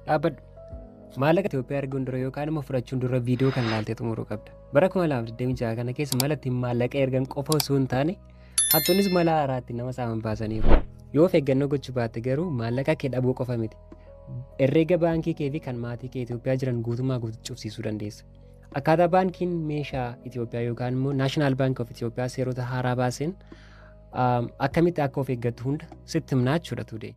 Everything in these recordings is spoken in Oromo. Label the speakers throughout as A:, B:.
A: Dhaabbadhu. Maallaqa Itoophiyaa erguun dura yookaan immoo fudhachuun dura viidiyoo kan ilaaltee xumuruu qabda. Bara 2026 kana keessa mala ittiin maallaqa ergan qofa osoo hin taane hattoonnis mala haaraatti nama saaman baasaniiru. Yoo of eeggannoo gochuu baatte garuu maallaqa kee dhabuu qofa miti. Herreega baankii kee fi kan maatii kee Itoophiyaa jiran guutummaa guutuu cufsiisuu dandeessa. Akkaataa baankiin meeshaa Itoophiyaa yookaan immoo Naashinaal Baank of Itoophiyaa seerota haaraa baaseen akkamitti akka of eeggattu hunda sitti himnaa jechuudha tuudee.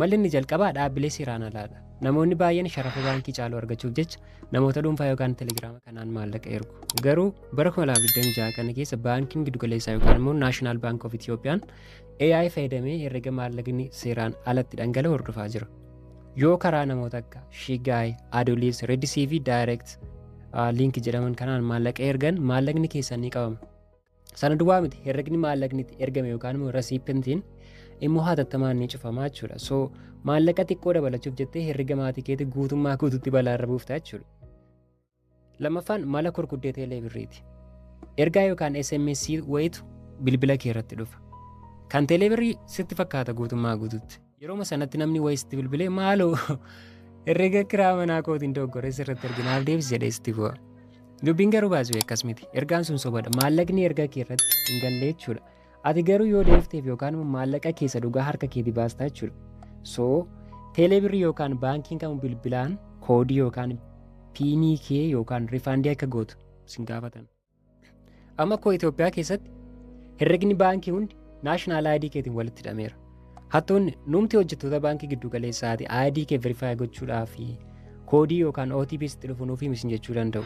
A: Malli inni jalqabaa dhaabbilee seeraan alaadha. Namoonni baay'een sharafa baankii caalu argachuuf jecha namoota dhuunfaa yookaan telegiraama kanaan maallaqa ergu. Garuu bara 2026 kana keessa baankiin giddugaleessaa yookaan immoo Naashinaal Baank of Itiyoophiyaan AI fayyadamee herrega maallaqni seeraan alatti dhangala'u hordofaa jira. Yoo karaa namoota akka Shigaay, Adolis, Redis fi Direct liinki jedhaman kanaan maallaqa ergan maallaqni keessan ni qabama. Sana duwwaa miti herregni maallaqni itti ergame yookaan immoo rasiipintiin immoo hatattamaan ni cufama jechuudha. So maallaqa xiqqoo dabalachuuf jettee herrega maatii keetii guutummaa guututti balaarra buufta jechuudha. Lammaffaan mala kurkuddee teelee birriiti. Ergaa yookaan SMS wayitu bilbila kee irratti dhufa. Kan teelee birrii sitti fakkaata guutummaa guututti. Yeroma sanatti namni wayii sitti bilbilee maaloo herrega kiraa manaa kootiin dogoggoree sirratti erge naaf deebisi jedhee sitti bu'a. Dubbiin garuu baasuu akkas miti. Ergaan sun sobadha. Maallaqni ergaa kee irratti hin galle jechuudha. Ati garuu yoo deebifteef yookaan immoo maallaqa keessa dhugaa harka keetii baastaa jechuudha. So teelee birrii yookaan baankiin kamuu bilbilaan koodii yookaan piinii kee yookaan rifaandii akka gootu sin gaafatan. Amma koo Itoophiyaa keessatti herregni baankii hundi naashinaal ID keetiin walitti hidhameera. Hattoonni nuumti hojjettoota baankii giddu galeessaati ID kee verifaayi gochuudhaaf koodii yookaan OTP sitti dhufu nuuf himi jechuu danda'u.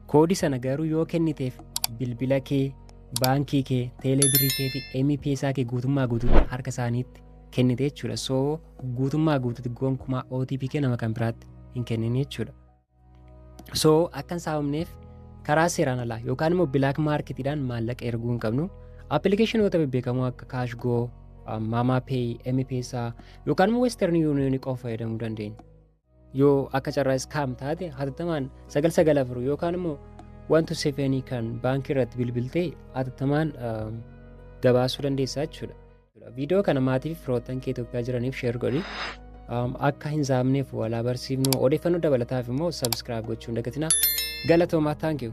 A: Koodii sana garuu yoo kenniteef bilbila kee, baankii kee, teelee birrii kee fi MPSA kee guutummaa guutuutti harka isaaniitti kennite jechuudha. So guutummaa guutuutti gonkumaa OTP kee nama kan biraatti hin kennine jechuudha. so akka hin saamamneef karaa seeraan alaa yookaan immoo bilaak maarketiidhaan maallaqa erguu hin qabnu appilikeeshinoota bebbeekamoo akka kaashgoo maamaa peey mpeesaa yookaan immoo western yuuniyoonii qofa fayyadamuu dandeenya yoo akka carraa iskaam taate hatattamaan 994 yookaan immoo wantu sefeenii kan baankii irratti bilbiltee hatattamaan gabaasuu dandeessaa jechuudha. Viidiyoo kana maatii fi firoottan kee Itoophiyaa jiraniif sheer godhi. Akka hin saamneef walaa barsiifnu odeeffannoo dabalataaf immoo sabiskiraayib gochuun dagatina. Galatoomaa thank you.